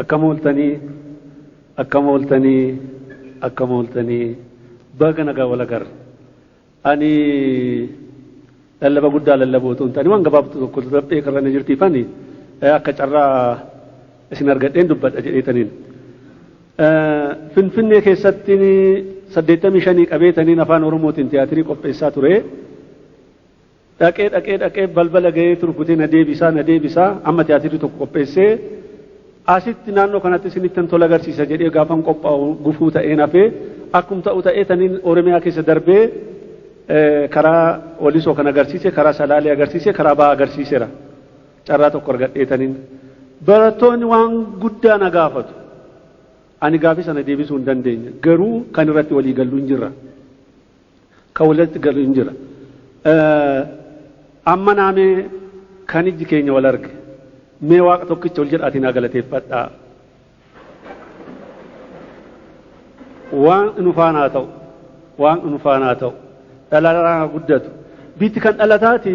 Akkam ooltanii akkam ooltanii akkam ooltanii baga nagaa wal agarra. Ani lallaba guddaa lallabuu otoo hin taane waan gabaabduu tokko darbee karra na jirtiifani akka carraa isin argadheen dubbadha jedheetaniin. Finfinnee keessatti saddeettamii shanii qabeetaniin afaan Oromootiin tiyaatirii qopheessaa ture. Dhaqee dhaqee dhaqee balbala gaheetu rukutee na deebisaa na deebisaa amma tiyaatirri tokko qopheessee asitti naannoo kanatti isinittan tola agarsiisa jedhee gaafan qophaa'u gufuu ta'een hafee akkum ta'u ta'ee taniin Oromiyaa keessa darbee karaa Walisoo kan agarsiise karaa Salaalee agarsiise karaa Ba'aa agarsiiseera carraa tokko argadhee taniin barattoonni waan guddaa na gaafatu ani gaafii sana deebisuu hin dandeenye garuu kan irratti walii gallu hin jirra. Kan walitti galu hin jira. Amma naa mee kan ijji keenya wal arge mee Waaqa tokkicha ol jedhaatii naa galateeffadhaa. Waaqni nu faana haa ta'u. Waaqni nu faana haa ta'u. Dhalaraan haa guddatu. Biitti kan dhalataati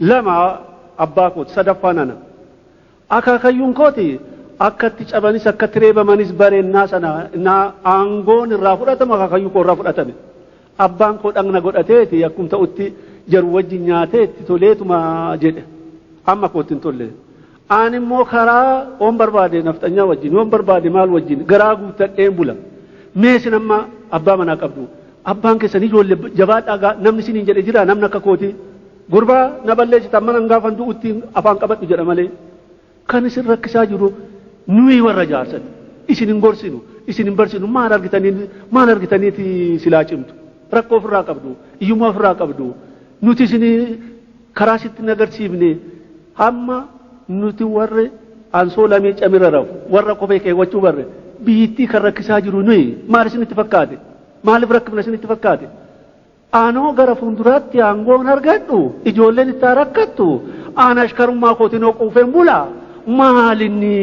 2 abbaa kooti, sadaffaan ana. Akaakayyuun kooti akka itti cabanis akka itti reebamanis bare ennaa sana ennaa aangoon irraa fudhatamu akaakayyuu koo irraa fudhatame. Abbaan koo dhagna godhateeti akkum ta'utti jaru wajjin nyaatee itti toleetuma jedhe. Amma kootti hin tolle. Aan immoo karaa oon barbaade nafxanyaa wajjin yoon barbaade maal wajjin garaa guuttadheen bula. Mee isin amma abbaa manaa qabdu. Abbaan keessan ijoollee jabaadhaa namni isiniin jedhe jira namni akka kootii. Gurbaa na balleessitan mana hin gaafan du'utti afaan qabadhu jedha malee kan isin rakkisaa jiru nuyi warra jaarsati isin hin gorsinu isin hin barsinu maal argitanii maal argitaniiti silaa cimtu rakkoo ofirraa qabdu iyyummaa ofirraa qabdu nuti isin karaa sitti hin agarsiifne hamma nuti warri ansoo lamii camirra rafu warra kophee keewwachuu barre biyyittii kan rakkisaa jiru nuyi maal isinitti fakkaate maaliif rakkifna isinitti fakkaate Anoo gara fuunduraatti aangoon argadhu ijoolleen itti haa rakkattu aan ashkarummaa kootinoo quufeen bulaa maalinni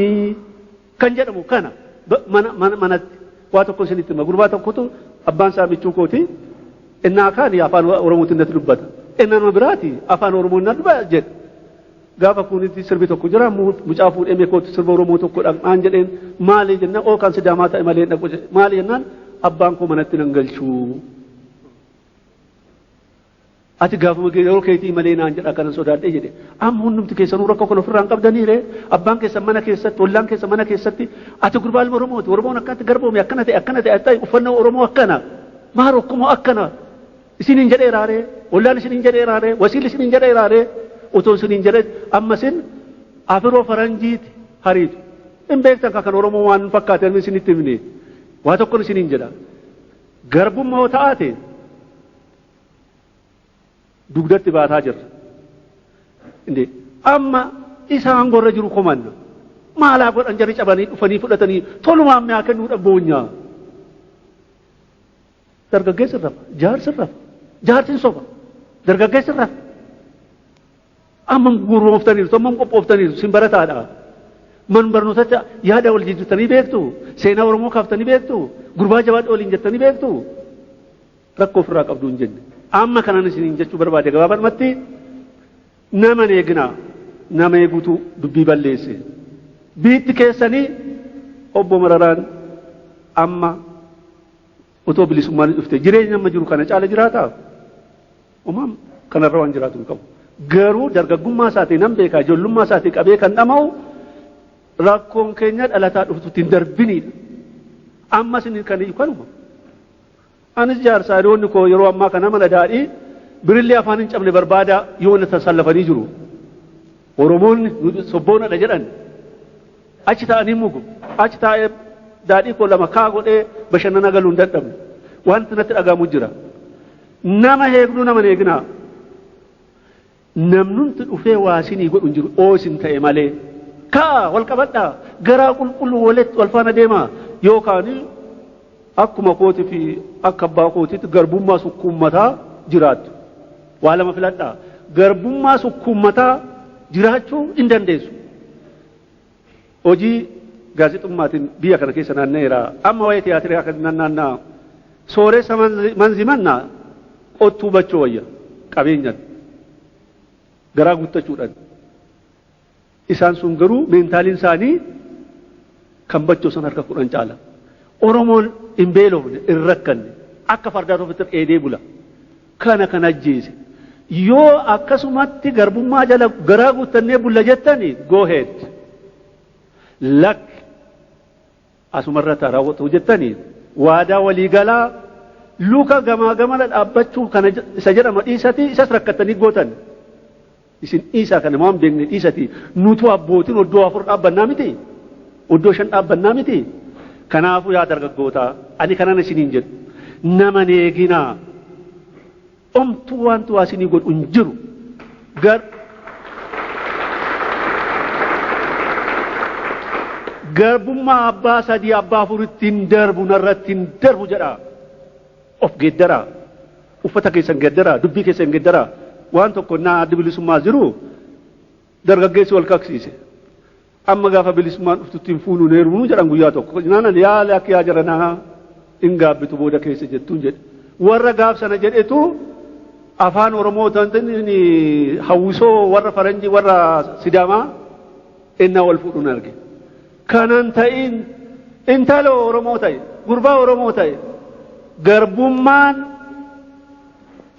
kan jedhamu kana manatti waa tokko isinitti hima gurbaa tokkotu abbaan isaa michuu kooti innaa kaani afaan oromootiin natti dubbata innaa nama biraati afaan oromoo innaa dubbata jedhe gaafa kuunitti sirbi tokko jira mucaa fuudhee meekootti sirba oromoo tokko dhaqnaan jedheen maali jennaan oo kan sidaamaa ta'e malee dhaqu maali jennaan abbaan koo manatti nan galchuu Ati gaafuma kee yeroo keetii malee naan jedha kanan sodaadhee jedhe. Amma hundumti keessanuu rakkoo kana ofirraa hin qabdanii ree? Abbaan keessan mana keessatti, ollaan keessan mana keessatti, ati gurbaa ilma Oromooti. Oromoon akkanatti garboome akkana ta'e akkana ta'e ta'e uffannaa Oromoo akkana. Maa rokkumoo akkana. Isin hin jedhee raaree? Ollaan isin hin jedhee raaree? Wasiilli isin hin jedhee raaree? Otoo isin hin jedhee amma isin afiroo faranjiiti hariitu. Hin beektan kan Oromoo waan fakkaatan isinitti himne. Waa tokkon isin hin jedha. Garbumma yoo ta'aate dugdatti baataa jirra. Inde amma isa aangoo irra jiru komanna. Maalaa godhan jarri cabanii dhufanii fudhatanii tolumaan mi'aa kennuudha boonyaa. Dargaggeessi rafa, jaarsi rafa, jaarsi soba, dargaggeessi rafa. Ammam gurmooftaniirtu, ammam qophooftaniirtu, sin barataadha. Man barnootatti yaada wal jijjiirtanii beektu, seenaa Oromoo kaaftanii beektu, gurbaa jabaadha waliin jettanii beektu. Rakkoo ofirraa qabdu hin jenne. Amma kanan isiniin jechuu barbaade gabaabadhumatti nama hin eeginaa, nama eegutu dubbii balleesse. Biitti keessanii obbo Mararaan amma Otoo bilisummaanis dhufte jireenyi amma jiru kana caala jiraataa? Homaa kanarra waan jiraatu hin qabu. Garuu dargaggummaa isaatii nan beekaa ijoollummaa isaatii qabee kan dhama'u rakkoon keenya dhalataa dhuftutti hin darbiniidha. Ammas inni kan iyyu kanuma. Anis jaarsaa hiriyoonni koo yeroo ammaa kana mana daadhii birillee afaan hin cabne barbaadaa yoo na tasallafanii jiru. Oromoonni sobboonadha jedhan. Achi taa'anii mugu. Achi taa'ee daadhii koo lama kaa godhee bashannanaa galuu hin dadhabne. Wanti natti dhaga'amu jira. Nama heegduu nama hin eeginaa. Namnumti dhufee waa isinii godhu hin jiru oo isin ta'e malee. Ka'aa wal qabadhaa garaa qulqulluu walitti wal faana deemaa yookaan akkuma kootii fi akka abbaa kootiitti garbummaa sukkuummataa jiraattu. Waa lama filadhaa. Garbummaa sukkuummataa jiraachuu hin dandeessu. Hojii gaazexummaatiin biyya kana keessa naanna'eera. Amma waa'ee tiyaatiraa kan nan naanna'a. Sooressa manzi- manzimannaa qottuu bachoo wayya qabeenyaan garaa guuttachuudhaan. Isaan sun garuu meentaaliin isaanii kan bachoo san harka kudhan caala. Oromoon hin beelofne, hin rakkanne. Akka fardaatu ofitti dheedee bula. kana kan ajjeese. Yoo akkasumatti garbummaa jala garaa guuttannee bulla jettani go head. Lakki asumarratti haa raawwatu jettani waadaa walii galaa luka gamaa gamana dhaabbachuu kana isa jedhama dhiisatii isas rakkattanii gootan. Isin dhiisaa kana waan beekne dhiisatii nutuu abbootiin oddoo afur dhaabbannaa mitii? Oddoo shan dhaabbannaa mitii? Kanaafuu yaa dargaggootaa ani kanan isiniin jedhu nama hin eeginaa omtuu waanti waa isinii godhu hin jiru gar garbummaa abbaa sadii abbaa afuritti hin darbu narratti hin darbu jedhaa of geeddaraa. Uffata keessan geeddaraa, dubbii keessan geeddaraa. Waan tokko ennaa Addi Bilisummaa jiru dargaggeessi wal kaksiise. Amma gaafa bilisummaan dhuftutti hin fuunu hin heerumnu jedhan guyyaa tokko. Jennaan ani yaa lakki yaa jaranaa hin gaabbitu booda keessa jettuun jedhe. Warra gaaf sana jedhetu afaan Oromoo ta'anii hawwisoo warra faranjii warra Sidaamaa ennaa wal fuudhuun arge. kanan ta'iin intaloo Oromoo ta'e gurbaa Oromoo ta'e garbummaan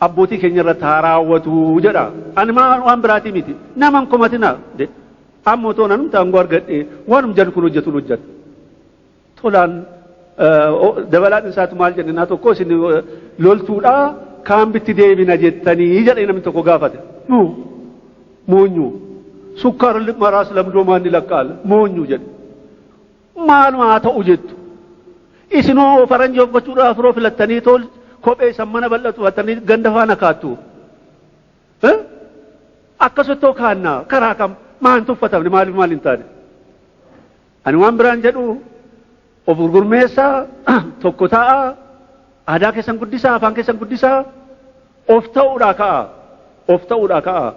abbootii keenya irratti haa raawwatu jedha. Ani maa- waan biraatii miti. Nama hin komatinaa jedhe. Amma otoo nan aangoo argadhee waanum jedhu kun hojjetuun hojjeta. Tolaan eh, o- dabalaan isaatu maal jedhe naa tokko isin eh, loltuudhaa kaan bitti deebina jettanii jedhee namni tokko gaafate. Nuu Moonyuu. Sukkaara maraas lamdoomaan ni lakkaa'ala. Moonyuu jedhe. Maaluma haa ta'u jettu. Isinoo faranjii of gochuudhaaf firoo filattanii tol kophee isan mana bal'atu uffatanii ganda faana kaattu. Eh? Akkasuttoo kaannaa karaa kam maan tuffatamne maaliif maal hin taane? Ani waan biraan jedhu of gurgurmeessaa tokko ta'aa aadaa keessan guddisaa afaan keessan guddisaa of ta'uudhaa ka'a of ta'uudhaa ka'a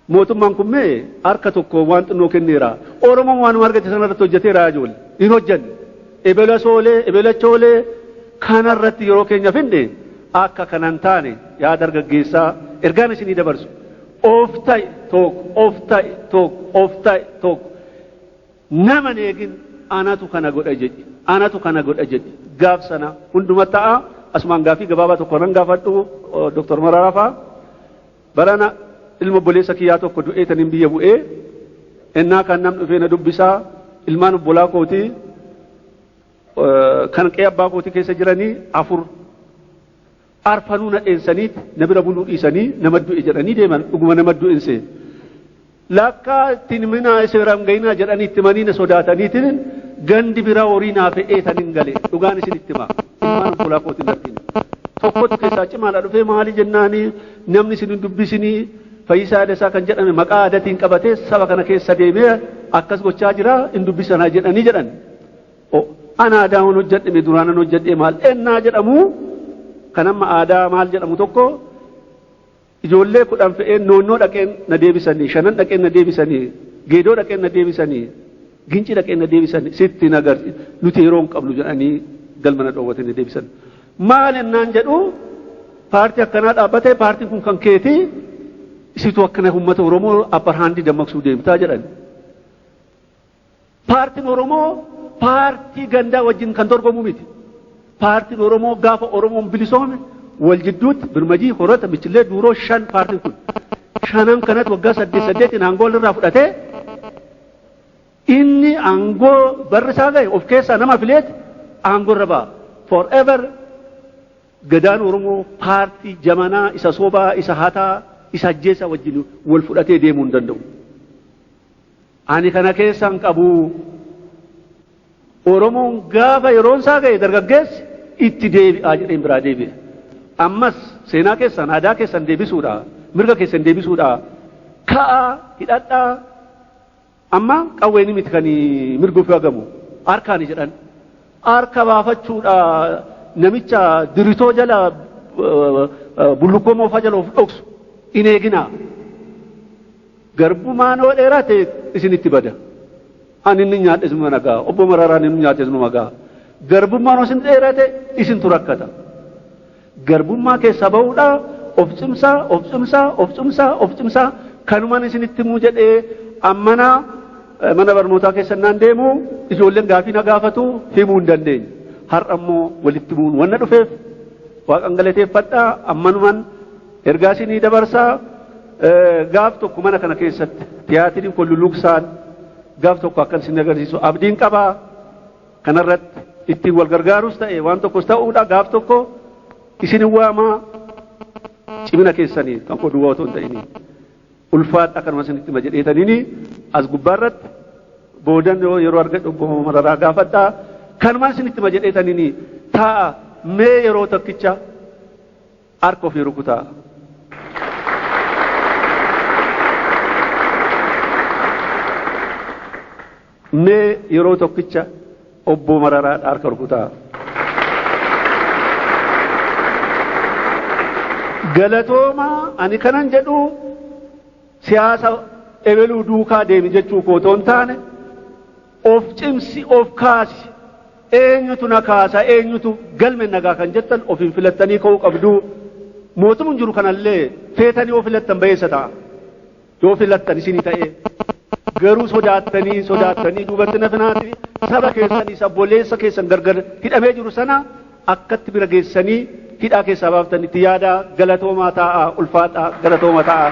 mootummaan kun mee harka tokko waan xinnoo kenneera oromoon waanuma argate sanarratti hojjeteera yaa ijoollee hin hojjenne Ebela soolee, ebela choolee kana irratti yeroo keenya fixne akka kana hin taane yaa dargaggeessaa ergaan isinii dabarsu of ta'i tokko, of ta'i tokko, of ta'i tokko nama hin eegin anatu kana godha jedhi, anatu kana godha jedhi gaaf sana hunduma ta'a. Asumaan gaaffii gabaabaa tokko nan gaafadhu Dr. Mararaa fa'aa. Barana ilma obboleessa kiyyaa tokko du'eetaniin biyya bu'e. Ennaa kaan namni dhufee na dubbisa. Ilmaan obbolaa kootii kan qe'ee abbaa kootii keessa jiranii afur arfanuu na dheensaniit na bira buluu dhiisanii nama du'e jedhanii deeman. Dhuguma nama du'e hin seene. Lakkaa ittiin himinaa isa bira hin ga'inaa jedhanii itti himanii na sodaataniitiin gandi biraa horii naa fe'ee tan hin gale dhugaan isin itti himaa ilmaan obbolaa kootiin natti hime. Tokkotu keessaa cimaadha dhufee maali jennaanii namni isin hin dubbisinii fayyisaa dasaa kan jedhame maqaa aadatiin qabatee saba kana keessa deemee akkas gochaa jira hin dubbisanaa jedhanii jedhan. Ana aadaa waan hojjedhame duraanan hojjedhee maal ennaa jedhamu kan amma aadaa maal jedhamu tokko Ijoollee kudhan fe'een Noonnoo dhaqeen na deebisanii, Shanan dhaqeen na deebisanii, Geedoo dhaqeen na deebisanii, Gincii dhaqeen na deebisanii, sitti hin agarsi, nuti yeroo hin qabnu jedhanii galma na dhoowwatanii na deebisan. Maal ennaan jedhu paartii akkanaa dhaabbatee paartiin kun kan keeti, isitu akkana uummata Oromoo upper hand dammaqsuu deemtaa jedhan. Paartin Oromoo paartii gandaa wajjin kan dorgomu miti. Paartin Oromoo gaafa Oromoon bilisoome wal jidduutti birmajii, horata, michillee, duuroo shan paartin kun. Shanan kanatti waggaa saddeet saddeetiin aangoo irraa fudhatee inni aangoo barri isaa gahe of keessaa nama fileeti aangoo irra ba'a. Forever gadaan Oromoo paartii jamanaa isa sobaa isa hataa isa ajjeesaa wajjin wal fudhatee deemuu hin danda'u. Ani kana keessa hin qabu. Oromoon gaafa yeroon isaa ga'e dargaggeessi itti deebi'aa jedheen biraa deebi'e. Ammas seenaa keessan aadaa keessan deebisuudha. Mirga keessan deebisuudha. Ka'aa hidhadhaa amma qawweeni miti kan mirga ofii hagamu harkaani jedhan. Harka baafachuudha namicha diritoo jala bullukkoo moofaa jala of dhoksu hin eeginaa. Garbumaan hoo dheerate isinitti bada. Ani inni nyaadhes numa nagaa. Obbo Mararaan inni nyaates numa gaha. Garbummaan hoo isin dheerate isintu rakkata. Garbummaa keessaa bahuudhaa of cimsaa, of cimsaa, of cimsaa, of cimsaa kanuman isinitti himuu jedhee ammana mana barnootaa keessa innaan deemu ijoolleen gaafii na gaafatu himuu hin dandeenye. Har'a immoo walitti himuun wanna dhufeef waaqan galateeffadha ammanuman Ergaa isinii dabarsaa gaaf tokko mana kana keessatti tiyaatiriin kun luluqsaan gaaf tokko akkan isin agarsiisu abdiin qabaa kanarratti ittiin wal gargaarus ta'e waan tokkos ta'uudha gaaf tokko isin waamaa cimina keessanii kan koo duwwaa otoo hin ta'inii ulfaadha kanuma isinitti hima jedheetaniini as gubbaarratti boodan yoo yeroo argadhu obbo Mararaa gaafadhaa kanuma isinitti hima jedheetaniini taa'a mee yeroo tokkicha Harka ofii rukutaa. Mee yeroo tokkicha obboo mararaa harka rukutaa. Galatoomaa ani kanan jedhu siyaasa ebeluu duukaa deemi jechuu koo otoo hin taane Of cimsi, of kaasi. Eenyutu na kaasa, eenyutu galmen na gaha kan jettan ofiin filattanii ka'uu qabdu. Mootumun jiru kanallee feetanii yoo filattan bayeessa ta'a. Yoo filattan isinii ta'ee. Garuu sodaattanii, sodaattanii duubatti hin hafinaati. Saba keessan isa obboleessa keessan gargar hidhamee jiru sana akkatti bira geessanii hidhaa keessaa baaftan itti yaadaa galatoomaa taa'aa ulfaadhaa galatooma taa'aa.